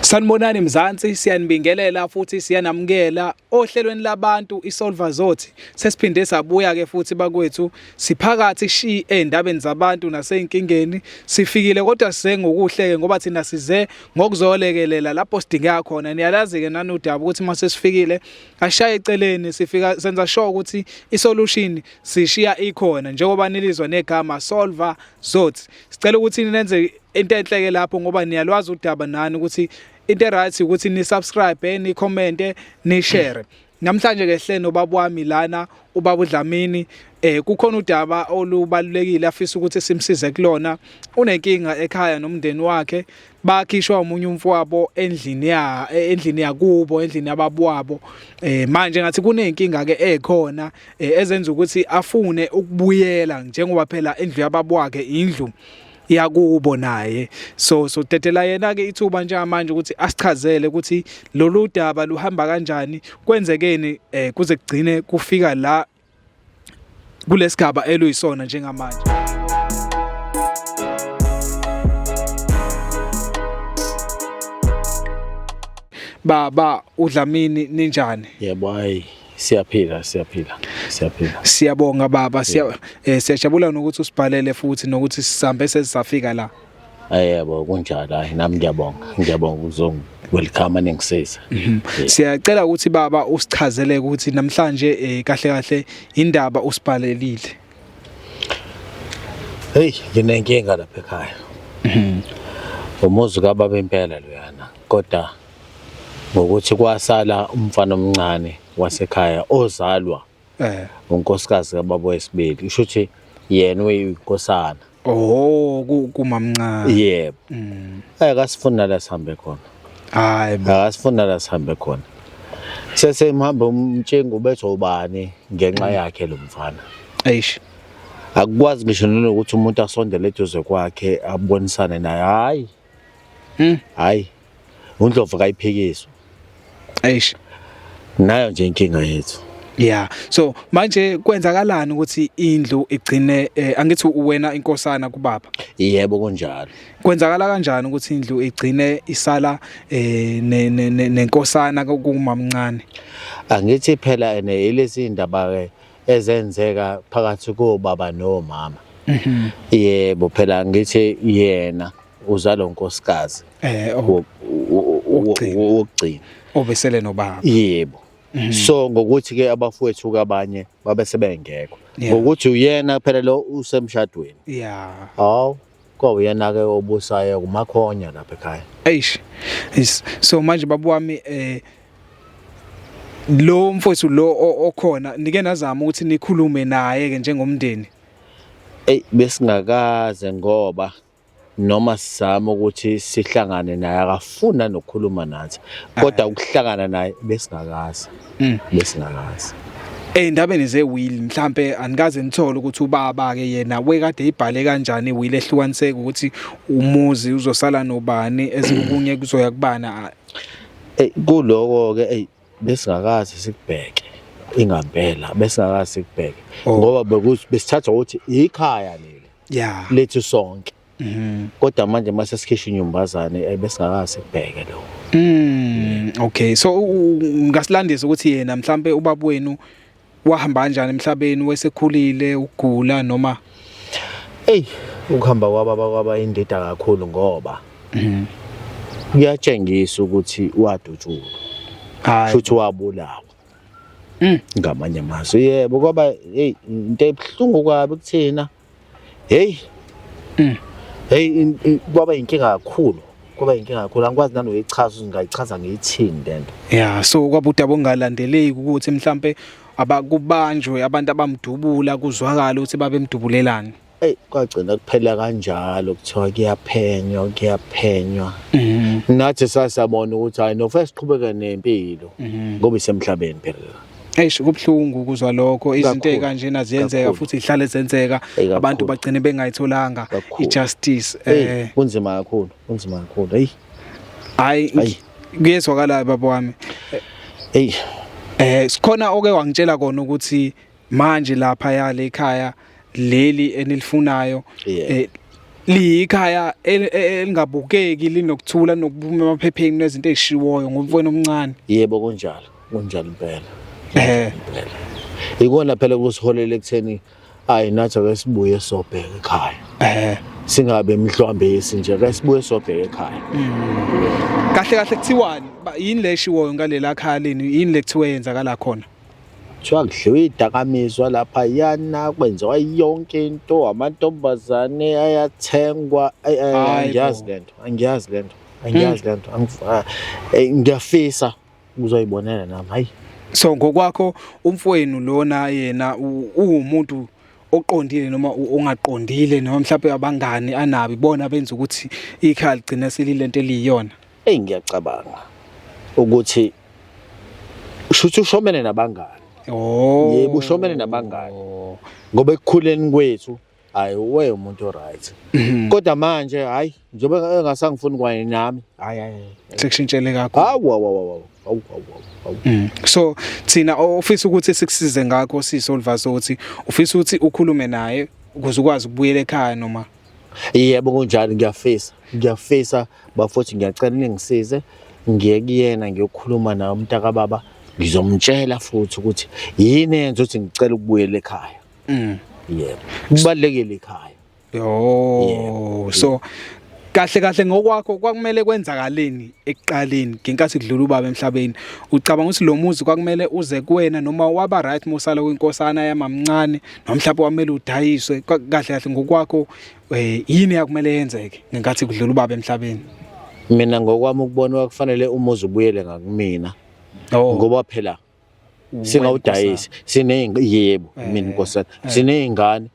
Sanibonani Mzansi siyanibingelela futhi siyanamukela ohlelweni labantu iSolver Zothi sesiphinde sabuya ke futhi bakwethu siphakathi shi endabeni zabantu naseynkingeni sifikile kodwa size ngokuhleke ngoba thina size ngokuzolekelela lapho sidingeka khona niyalazi ke nanodaba ukuthi mase sifikile ashaye eceleni sifika senza sure ukuthi isolution sishiya ikhona njengoba nilizwa negama Solver Zothi sicela ukuthi nenze into enhle ke lapho ngoba niyalwazi udaba nani ukuthi into right ukuthi ni subscribe ni comment ni share namhlanje ke hle nobaba wami lana ubaba uDlamini eh kukhona udaba olubalulekile afisa ukuthi simsize kulona unenkinga ekhaya nomndeni wakhe bakhishwa umunye umfowabo endlini ya eh, endlini yakubo endlini yababwabo eh manje ngathi kunenkinga ke ekhona eh, ezenza ukuthi afune ukubuyela njengoba phela indlu yababwakhe indlu yakubo naye so so tetela yena ke ithuba nje manje ukuthi asichazele ukuthi lolu daba luhamba kanjani kwenzekeni eh, kuze kugcine kufika la kulesigaba eluyisona njengamanje baba udlamini ninjani yebo hayi Siyaphila siyaphila siyaphila. Siyabonga baba siya eh, siyajabula nokuthi usibhalele futhi nokuthi sisambe sesafika la. Ayebo kunjalo hayi nami ngiyabonga ngiyabonga uzongi welcome aningisisa mhm. siyacela ukuthi baba usichazele ukuthi namhlanje eh, kahle kahle indaba usibhalelile hey nginenkinga lapha ekhaya mhm. umuzi kababa impela loyana kodwa ngokuthi kwasala umfana omncane wasekhaya ozalwa eh unkosikazi kababa wesibili usho ukuthi yena uyinkosana oh ku- kumamncane yebo Mm. akasifuni nala sihambe khona hayi bo akasifuni nala sihambe khona sesemhamba umtshengo ubethi ubani ngenxa yakhe lo mfana eish akukwazi ngisho nokuthi umuntu asondele eduze kwakhe abonisane naye hayi Hmm. Hayi. UNdlovu kayiphikiswa. Eish. Nayo nje inkinga yethu. Yeah. So manje kwenzakalani ukuthi indlu igcine eh, angithi uwena inkosana kubaba? Yebo kunjalo. Kwenzakala kanjani ukuthi indlu igcine isala eh nenkosana kumamncane? Angithi phela ene ilezi indaba ke ezenzeka phakathi kobaba nomama mhm. yebo phela ngithi yena uzalo nkosikazi eh oh. wokugcina obesele nobaba yebo mhm. so ngokuthi ke abafowethu kabanye babe sebengekho ngokuthi uyena phela lo usemshadweni yeah hawu kwawuyena-ke obusayo kumakhonya lapha ekhaya eish yes. so manje babu wami eh lo mfowethu lo okhona nike nazama ukuthi nikhulume naye ke njengomndeni ey besingakaze ngoba noma sizama ukuthi sihlangane naye akafuna nokukhuluma nathi kodwa ukuhlangana naye besingakaze mm. bese ngamazi Eyindabeni ze will mhlambe anikaze nithole ukuthi ubaba ke yena wekade ibhale kanjani will ehlukaniseka ukuthi umuzi uzosala nobani ezikunye kuzoya kubana eh kuloko ke ey besingakazi sikubheke ingambela besingakazi sikubheke oh. ngoba besithatha ukuthi ikhaya leli yeah lethu sonke Mhm. kodwa manje mase sikhishwa inyumbazane eh, besingakazi kubheke lo Mm, okay. So u- u- ngasilandisa ukuthi yena mhlambe ubaba wenu wahamba kanjani emhlabeni wesekhulile ugula noma eyi ukuhamba kwababa kwaba indida kakhulu ngoba Mhm. kuyatshengisa ukuthi wadutshulwa hayi futhi wabulawa Mm. ngamanye amazwi yebo kwaba eyi into ebuhlungu kwabi kuthina Hey. Mm. Hey kwaba inkinga kakhulu. Kwaba inkinga kakhulu. Angikwazi nanoyichaza uzingayichaza ngiyithini lento. Yeah, so kwabuda bongalandeleki ukuthi mhlambe abakubanjwe abantu abamdubula kuzwakala ukuthi babemdubulelani. Ey kwagcina kuphela kanjalo kuthiwa kuyaphenywa kuyaphenywa. Mhm. Nathi sasabona ukuthi hayi no first qhubeka nempilo mhm. ngoba isemhlabeni phela. Eish kubhlungu ukuzwa lokho izinto ezikanjena ziyenzeka futhi ihlale zenzeka abantu bagcine bengayitholanga ijustice eh kunzima kakhulu kunzima kakhulu hey hayi kuyezwakala baba wami hey eh sikhona oke wangitshela kona ukuthi manje lapha yale ekhaya leli enilifunayo eh, liyikhaya e, e, elingabukeki linokuthula nokuphuma emaphepheni nezinto ezishiwoyo ngomfweni omncane yebo kunjalo Kunjalo impela. Eh. Ikona phela kusiholela ekutheni ayi nathi ake sibuye sobheka ekhaya. Eh. Singabe mhlwambisi nje ake sibuye sobheka ekhaya. Mm. Kahle kahle kuthiwani? Yini le shiwoyo ngalela khaya leni? Yini lekuthiwe yenzakala khona? kuthiwa kudliwe idakamizwa lapha yana kwenziwa yonke into amantombazane ayathengwa angiyazi le nto angiyazi le nto angiyazi le nto ah, eh, ngiyafisa uzoyibonela nami hayi so ngokwakho umfowenu lona yena uwumuntu oqondile noma ongaqondile noma mhlawumbe abangani anabi bona benza ukuthi ikhaya ligcina selilento eliyiyona eyi ngiyacabanga ukuthi shuthi ushomene nabangani oh yebo ushomene nabangani ngoba ekukhuleni kwethu hayi uwe umuntu oright kodwa manje hayi njengoba engasangifuni kwaye nami hayi hayi sekushintshele kakho hawu hawu hawu hawu hawu mm. so thina ofisa ukuthi sikusize ngakho sisi olivaso ukuthi ufisa ukuthi ukhulume naye ukuze ukwazi ukubuyela ekhaya noma yebo kunjalo ngiyafisa ngiyafisa bafothi ngiyacela ningisize ngiye kuyena ngiyokhuluma naye umntaka baba ngizomtshela futhi ukuthi yini yenza ukuthi ngicela ukubuyela ekhaya Mm. Yebo. Kubalekile ikhaya. Yo. So kahle kahle ngokwakho kwakumele kwenzakaleni ekuqaleni ngenkathi kudlula ubaba emhlabeni ucabanga ukuthi lo muzi kwakumele uze kuwena noma waba right mosala kwinkosana yamamncane noma mhlawumbe kwamele udayiswe kahle kahle ngokwakho eh, yini yakumele yenzeke ngenkathi kudlula ubaba emhlabeni mina ngokwami ukubona kwakufanele umuzi ubuyele ngakumina oh. ngoba phela singawudayisi sinezingi yebo eh, mina inkosana eh. sinezingane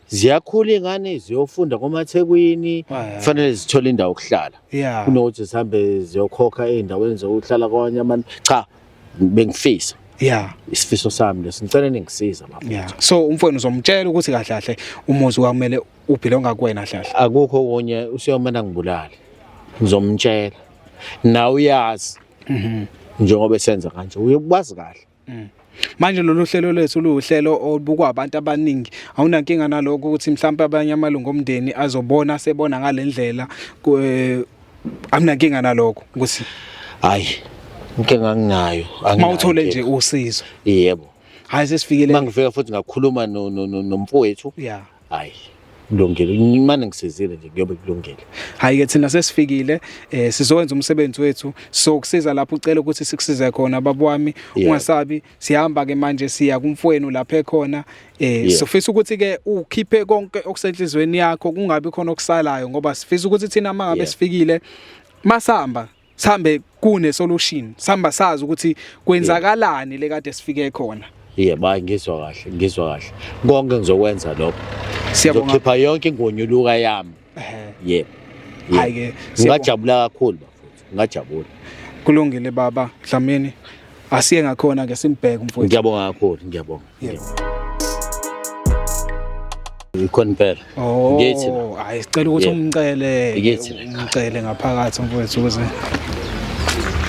ziyakhula ingane ziyofunda komathekwini eh. fanele zithole indawo okuhlala kunokuthi zihambe ziyokhokha ezindaweni zokuhlala kwanye abantu cha bengifisa yeah isifiso sami leso ngicela ningisiza lapho yeah so umfweni uzomtshela ukuthi kahle kahle umuzi wakumele ubhilonga kuwena hlahla akukho konye usiyomana ngibulale ngizomtshela nawe uyazi mhm. njengoba esenza kanje uye ukwazi kahle mm. manje lolu hlelo lwethu luwuhlelo olubukwa abantu abaningi awunankinga nalokho ukuthi mhlawumbe abanye amalungu omndeni azobona sebona ngalendlela eh, amnankinga nalokho ukuthi hayi inkinga nginayo mawuthole nje usizo yebo hayi sesifikele mangifika futhi ngakhuluma nomfowethu yeah hayi kulungile imane ngisizile nje kuyobe kulungile hayi ke thina sesifikile eh sizokwenza umsebenzi wethu so kusiza lapho ucela ukuthi sikusize khona baba wami ungasabi sihamba ke manje siya kumfweni lapha ekhona eh sifisa ukuthi ke ukhiphe konke okusenhlizweni yakho kungabi khona okusalayo ngoba sifisa ukuthi thina mangabe sifikile masamba sihambe kune solution sihamba sazi ukuthi kwenzakalani le kade sifike khona yebo hayi ngizwa kahle ngizwa kahle konke ngizokwenza lokho Siyabonga. ngizokhipha yonke ingonyuluka yami yebo Hhayi ke, siyabonga. ngingajabula kakhulu bafowethu ngingajabula kulungile baba dlamini asiye ngakhona ke simbheke umfowethu ngiyabonga kakhulu ngiyabonga yes ikhona impela oh, ngithi hayi sicela ukuthi umcele umcele ngaphakathi mfowethu ukuze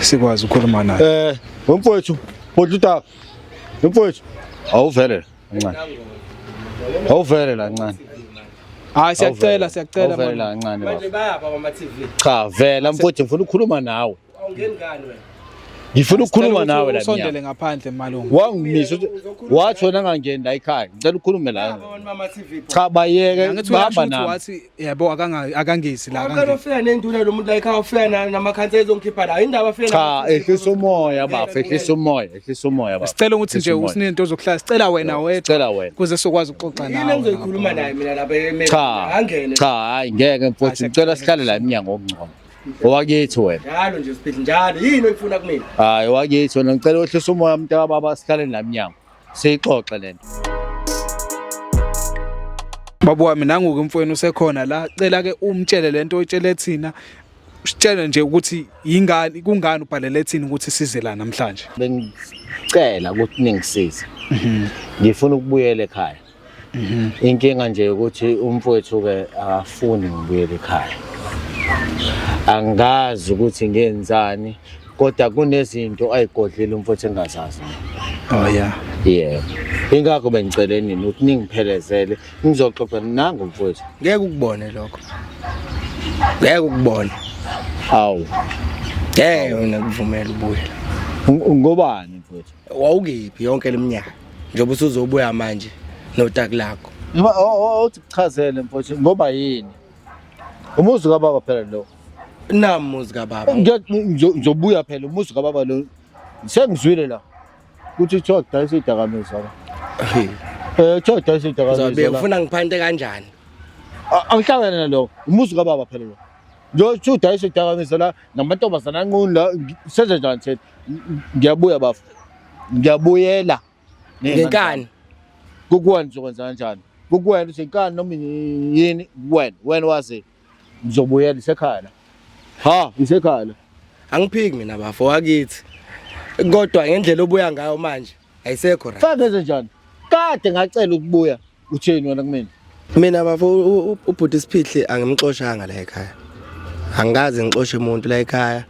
sikwazi ukukhuluma naye eh mfowethu botluta mfowethu awuvele kancane awuvele la ncane hayi siyacela siyacela manje kancane manje bayapha ama TV cha vela mfowethu ngifuna ukukhuluma nawe Awungeni ngani wena? Ngifuna ukukhuluma nawe la. Usondele ngaphandle malungu. Wangimisa wathi wena ngangeni la ekhaya. Ngicela ukhulume la. Cha bayeke bahamba nami. Wathi yabo akanga akangisi la akangisi. Uqala ufika nenduna lo muntu la ekhaya ufika namakhansa ezongikhipha la. Indaba afika Cha ehlisa umoya bafo ehlisa umoya ehlisa umoya bafo. Sicela ukuthi nje usinento ozokuhlala sicela wena wethu. Sicela wena. Kuze sokwazi ukuxoxa nawe. Yini engizoyikhuluma naye mina lapha emehlweni. Angene. Cha hayi ngeke mfowethu ngicela sihlale la eminyango okungcono. Owakithi wena. Njalo nje Siphithi njalo yini oyifuna kumina? Hayi owakithi wena ngicela wehlisa umoya mntaka baba sihlale la mnyango. Siyixoxe lento. Baba wami nangu-ke mfowenu usekhona la cela ke umtshele lento oyitshele thina sitshele nje ukuthi yingani kungani ubhalele thina ukuthi size la namhlanje. Bengicela ukuthi ningisize. Ngifuna ukubuyela ekhaya. Mhm. Inkinga nje ukuthi umfowethu ke akafuni ngibuyele ekhaya. Angazi ukuthi ngenzani kodwa kunezinto ayigodlile umfowethu engazazi. Oh yeah. Yeah. Ingakho bengicela nini ukuthi ningiphelezele ngizoxoxa nangu mfowethu. Ngeke ukubone lokho. Ngeke ukubone. Awu. Ngeke mina kuvumela ubuyela. Ngobani mfowethu? wawukephi yonke leminyaka njengoba usuzobuya manje notaki lakho Noma o- o- othi kuchazele mfowethu ngoba yini? Umuzi kababa phela lo. namuzi kababa Ngiya- ngizo- Ngizobuya phela umuzi kababa lo. Sengizwile la. Kuthi kuthiwa kudayisa idakamizwa la. Hey, Eh kuthiwa kudayisa uzobe idakamizwa la. ufuna ngiphante kanjani A- Angihlangane nalo. Umuzi kababa phela lo. Ngiyothi udayisa idakamizwa la namantombazana anqunu la ngi- senze njani thina? ngiyabuya bafo ngiyabuyela ngenkani kukuwena uzokwenza kanjani kukuwena uthi inkani noma yini kuwena wena wazi ngizobuyela isekhaya la ha isekhaya la angiphiki mina bafo wakithi kodwa ngendlela obuya ngayo manje ayisekho right fake nje njani kade ngacela ukubuya utheni wena kumina mina bafo ubhuti siphihle angimxoshanga la ekhaya angikaze ngixoshe umuntu la ekhaya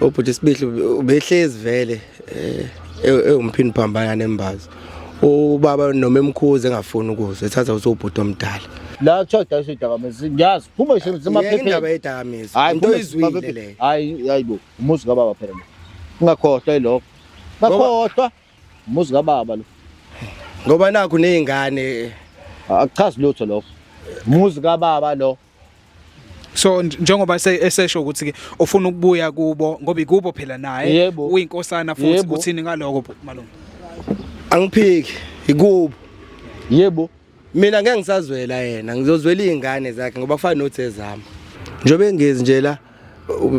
ubhuti siphihle ubehlezi vele eh, ewumphini phambana nembazo ubaba noma emkhuze engafuni ukuzwa ethatha usubhuti omdala la kuthiwa udayisa idakamizwa ngiyazi phuma isemaphephendaba yedakamizwa into izwile leyo hayi hayi bo umuzi kababa phela ungakhohlwa yilokho ngakhohlwa Umuzi kababa lo. Ngoba nakho nezingane akuchazi lutho lokho. Umuzi kababa lo. So njengoba esesho ukuthi ke ufuna ukubuya kubo ngoba ikubo phela naye uyinkosana futhi uthini ngaloko malungu. Angiphiki ikubo. Yebo. mina ngeke ngisazwela yena ngizozwela izingane zakhe ngoba kufana nothi ezama njengoba engezi nje la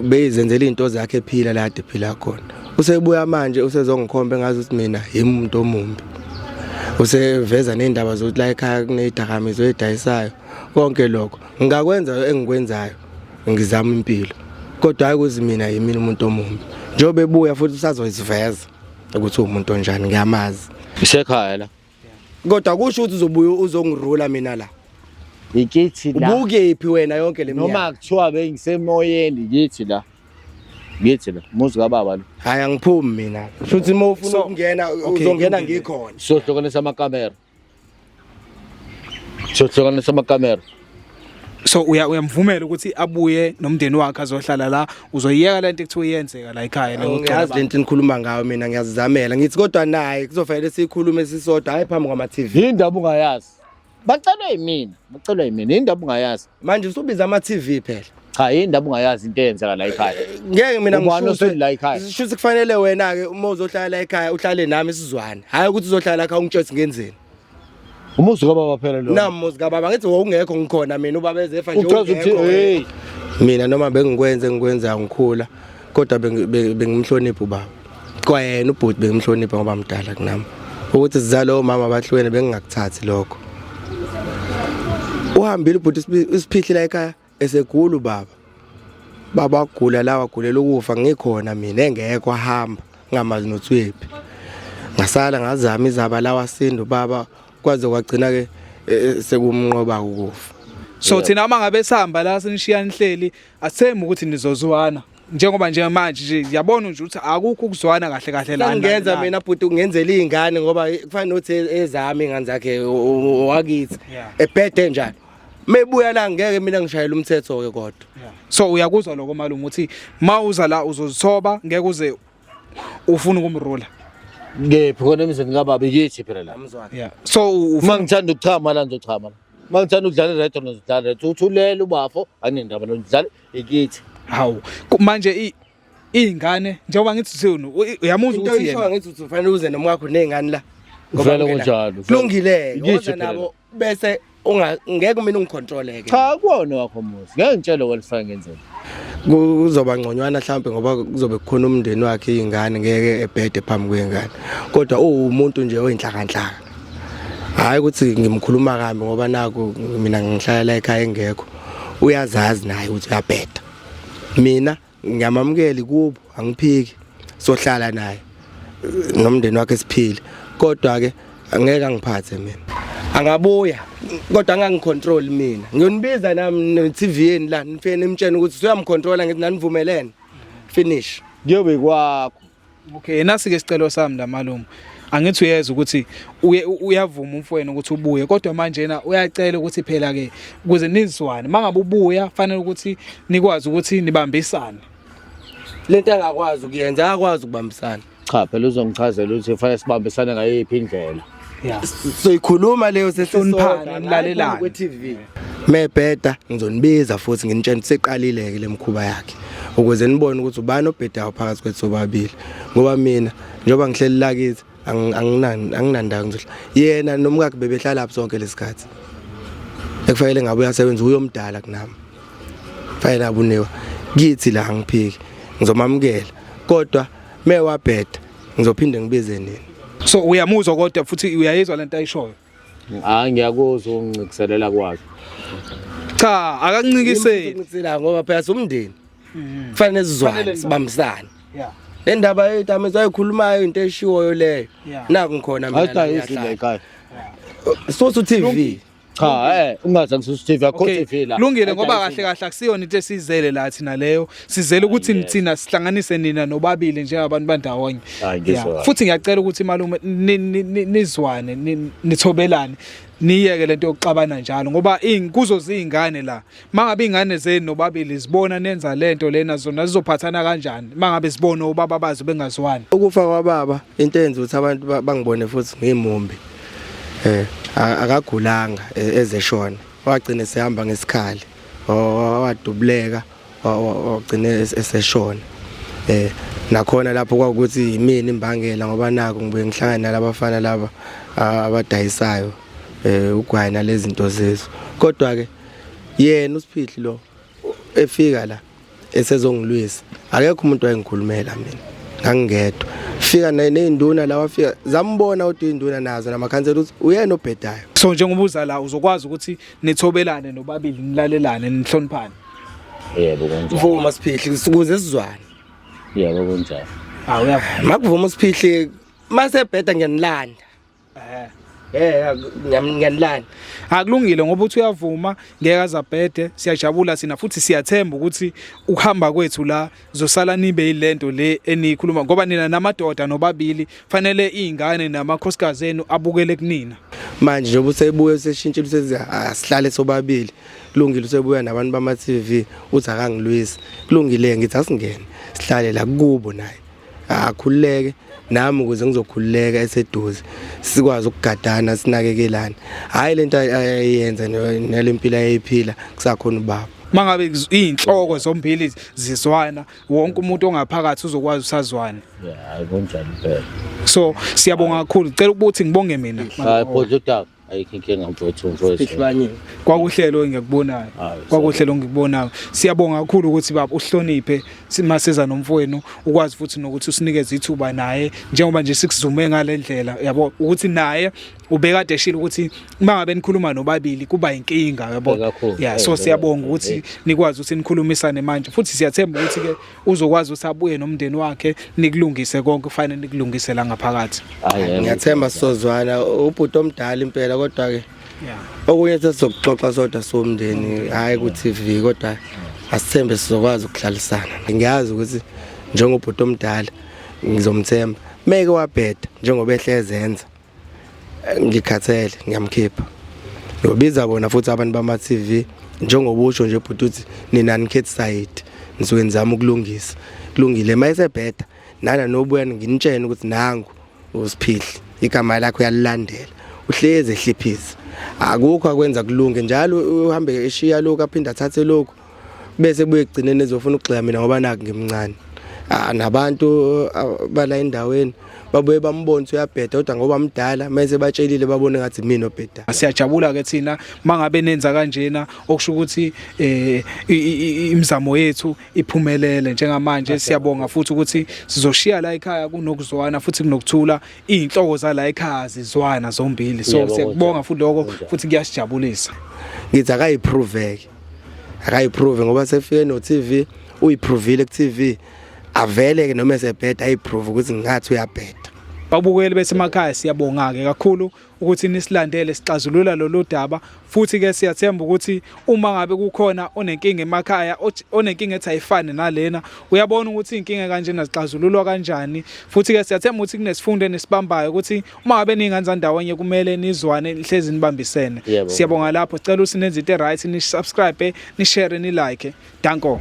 beyizenzela izinto zakhe ephila la kade phila khona usebuya manje usezongikhomba engazi ukuthi mina yimi umuntu omumbi useveza nezindaba zokuthi la ekhaya kunezidakamizwa ezidayisayo konke lokho ngingakwenza engikwenzayo ngizama impilo kodwa hayi ukuthi mina yimina umuntu omumbi njengoba ebuya futhi usazoyiveza ukuthi uwumuntu onjani ngiyamazi isekhaya la kodwa kusho ukuthi uzobuya uzongirula mina la ngikithi la ubukephi wena yonke le minyaka noma kuthiwa bengisemoyeni ngithi la ngithi la muzi kababa lo hayi angiphumi mina futhi uma ufuna ukungena uzongena ngikhona sohlukanisa amakamera sohlukanisa amakamera so uya uyamvumela ukuthi abuye nomndeni wakhe azohlala la uzoyiyeka lento ekuthiwa iyenzeka la ekhaya la ngiyazi lento enikhuluma ngayo mina ngiyazizamela ngithi kodwa naye kuzofanele sikhulume sisodwa hayi phambi kwama TV indaba ungayazi bacelwe yimina bacelwe yimina indaba ungayazi manje usubiza ama TV phela cha indaba ungayazi into eyenzeka la ekhaya ngeke mina ngisho la ekhaya sisho kufanele wena ke uma uzohlala la ekhaya uhlale nami sizwane hayi ukuthi uzohlala la ekhaya ungitshese ngenzeni Umuzi kababa phela lo. Nami muzi kababa ngithi wawungekho ngikhona mina ubaba ezefa nje. Uchaza ukuthi hey mina noma bengikwenze ngikwenza ngikhula kodwa bengimhlonipha ubaba. Kwayena ubhuti bengimhlonipha ngoba mdala kunami. Ukuthi sizalo mama bahlwene bengingakuthathi lokho. Uhambile ubhuti isiphihli la ekhaya Esegula ubaba. Baba gula lawa gulela ukufa ngikhona mina engekho ahamba ngamazi nothwephi. Ngasala ngazama izaba lawa sindu baba kwaze kwagcina ke e, e, sekumnqoba ukufa. So thina uma ngabe sihamba la sinishiya inhleli asithembi ukuthi nizozwana. njengoba nje manje nje yabona nje ukuthi akukho ukuzwana kahle kahle la ngenza mina bhuti ungenzela izingane ngoba kufanele uthi ezami ingane zakhe wakithi ebhede njalo mebuya la ngeke mina ngishayela umthetho ke kodwa so uyakuzwa lokho malume ukuthi mawuza la uzozithoba ngeke uze ufuna ukumrula ngephi khona emzini kababi kithi phela la yeah so uma ngithanda ukuchama la ngizochama la uma ngithanda ukudlala ireto ngizodlala ireto uthulele ubafo anendaba nodlala ikithi hawu manje iy'ngane njengoba ngithi senu uyamuzwa ukuthi yena ngithi ufanele uze nomwakho ney'ngane la vele kunjalo kulungile-ke nabo bese unga ngeke mina ungicontroleke cha kuwona wakho muzi ngeke ngitshele kwalifaka ngenzeni kuzoba ngconywana mhlawumbe ngoba kuzobe kukhona umndeni wakhe izingane ngeke ebhede phambi kwengane kodwa uwumuntu nje oyinhlakanhlaka hayi ukuthi ngimkhuluma kambi ngoba naku mina ngihlala ekhaya engekho uyazazi naye ukuthi uyabheda mina ngiyamamukeli kubo angiphiki sohlala naye nomndeni wakhe siphile kodwa ke angeke angiphathe mina angabuya kodwa angangicontrol mina ngiyonibiza nami ne-TV yeni la nifike nimtshene ukuthi suyamcontrola ngithi nanivumelene finish kuyobe kwakho Okay, nasi ke sicelo sami la malume. Angithi uyeza ukuthi uyavuma umfweni ukuthi ubuye kodwa manje yena uyacela ukuthi phela ke ukuze nizwane mangabe ubuya fanele ukuthi nikwazi ukuthi nibambisane. Lento angakwazi ukuyenza akwazi ukubambisana. Cha phela uzongichazela ukuthi fanele sibambisane ngayiphi indlela. yeah soyikhuluma leyo sesonphana nilalelana kwe TV mebheda ngizonibiza futhi nginitshela ukuthi seqalile ke lemkhuba yakhe ukuze nibone ukuthi ubani obhedayo phakathi kwethu sobabili ngoba mina njengoba ngihleli la kithi anginandawo ngizohla yena nomkakhe bebehlala lapho sonke lesikhathi ekufanele ngabe uyasebenza uyomdala kunami fanele abuniwa kithi la ngiphiki ngizomamukela kodwa mewabheda Ngizophinde ngibize nini? So uyamuzwa kodwa futhi uyayizwa lento ayishoyo. Hayi ngiyakuzwa ungincikiselela kwakhe. Cha akancikiseli. Ngincikisela ngoba phela somndeni. Mm-hmm. Kufanele sizwane sibambisane. Yeah. Le ndaba yethu amezwa ayikhulumayo into eshiwoyo leyo. Naku ngikhona mina. Ayidayisi le ekhaya. Sosu TV. Cha eh ungaze ngisusa TV akho Okay, TV la. Lungile ngoba Ayidayisi. kahle kahle akusiyona into esizele la thina leyo. Sizele ukuthi Yes. nithina sihlanganise nina nobabili njengabantu bandawonye. Hayi, ngizwa Yeah. kahle. Futhi ngiyacela ukuthi malume ni- ni- ni- nizwane ni- nithobelane. Niyeke lento yokuxabana njalo ngoba ingikuzo zingane la. mangabe ingane zenu nobabili zibona nenza lento lena zona zizophathana kanjani mangabe zibona ubaba bazo bengazwani ukufa kwababa into enza ukuthi abantu bangibone futhi ngimumbi eh akagulanga e, ezeshona wagcina sehamba ngesikhali wadubuleka wagcina eseshona eh nakhona lapho kwakuthi yimini imbangela ngoba naku ngibuye ngihlangana nalabafana laba abadayisayo eh ugwayi nalezinto zezo kodwa ke yena usiphihli lo efika la esezongilwisa akekho umuntu wayengikhulumela mina ngangingedwa fika nezinduna la wafika zambona kodwa izinduna nazo namakhansela ukuthi uyena obhedayo so njengoba uza la uzokwazi ukuthi nithobelane nobabili nilalelane nihloniphane yebo kunjalo mvuma siphihli ukuze sizwane yebo kunjalo awuyavuma makuvuma usiphihli masebheda ngiyanilanda eh Eh ngiyanilana. Akulungile ngoba uthi uyavuma ngeke azabhede siyajabula sina futhi siyathemba ukuthi ukuhamba kwethu la zosala nibe ilento le enikhuluma ngoba nina namadoda nobabili fanele izingane namakhosikazi enu abukele kunina. Manje njengoba usebuye useshintshe usethi asihlale sobabili kulungile usebuya nabantu bama TV uthi akangilwisi kulungile ngithi asingene sihlale la kubo naye. akhululeke nami ukuze ngizokhululeka eseduze sikwazi ukugadana sinakekelane hayi lento ayenza nelempilo ayiphila kusakhona ubaba mangabe izinhloko zombili zizwana wonke umuntu ongaphakathi uzokwazi usazwana yeah kunjalo phela so siyabonga kakhulu cela ukuthi ngibonge mina hayi bhodla udaba ayikho inkinga mfowethu mfowethu kwakuhlelo engikubonayo kwakuhlelo engikubonayo siyabonga kakhulu ukuthi baba uhloniphe simaseza nomfowenu ukwazi futhi nokuthi usinikeze ithuba naye njengoba nje sikuzume ngalendlela yabo ukuthi naye ubekade eshile ukuthi uma ngabe nikhuluma nobabili kuba inkinga yabo yeah so siyabonga ukuthi nikwazi ukuthi nikhulumisane manje futhi siyathemba ukuthi ke uzokwazi usabuye nomndeni wakhe nikulungise konke kufanele nikulungise la ngaphakathi ngiyathemba sizozwana ubhuti omdala impela kodwa ke okunye sesizokuxoxa sodwa somndeni hayi ku TV kodwa asithembe sizokwazi ukuhlalisana ngiyazi ukuthi njengobhuti omdala ngizomthemba meke wabheda njengoba ehlezenza ngikhathele ngiyamkhipha ngiyobiza bona futhi abantu bama-tv njengoba usho nje bhuti uthi nina nikhethi sayidi ngisuke ngizama ukulungisa kulungile uma esebheda nana nobuya nginitshene ukuthi nangu usiphihli igama lakho uyalilandela uhlezi ehliphisa akukho akwenza kulunge njalo uhambe eshiya lokhu aphinde athathe lokhu bese buye kugcineni ezofuna ukugxila mina ngoba naku ngimncane ah, nabantu ah, bala endaweni babuye bambone uyabheda kodwa ngoba mdala mase batshelile babone ngathi mina obheda siyajabula ke thina mangabe nenza kanjena okusho ukuthi eh imizamo yethu iphumelele njengamanje siyabonga futhi ukuthi sizoshiya la ekhaya kunokuzwana futhi kunokuthula izinhloko zala ekhaya zizwana zombili so siyakubonga futhi lokho futhi kuyasijabulisa ngithi akayiprove akayiprove ngoba sefike no TV uyiprovile ku TV avele ke noma esebheda ayiprove ukuthi ngathi uyabheda babukeli besemakhaya siyabonga ke kakhulu ukuthi nisilandele sixazulula lolu daba futhi ke siyathemba ukuthi uma ngabe kukhona onenkinga emakhaya onenkinga ethi ayifane nalena uyabona ukuthi inkinga kanjena zixazululwa kanjani futhi ke siyathemba ukuthi kunesifundo nesibambayo ukuthi uma ngabe ningenzani ndawonye kumele nizwane nihlezi nibambisene siyabonga lapho sicela ukuthi nenze into right ni subscribe ni share ni like danko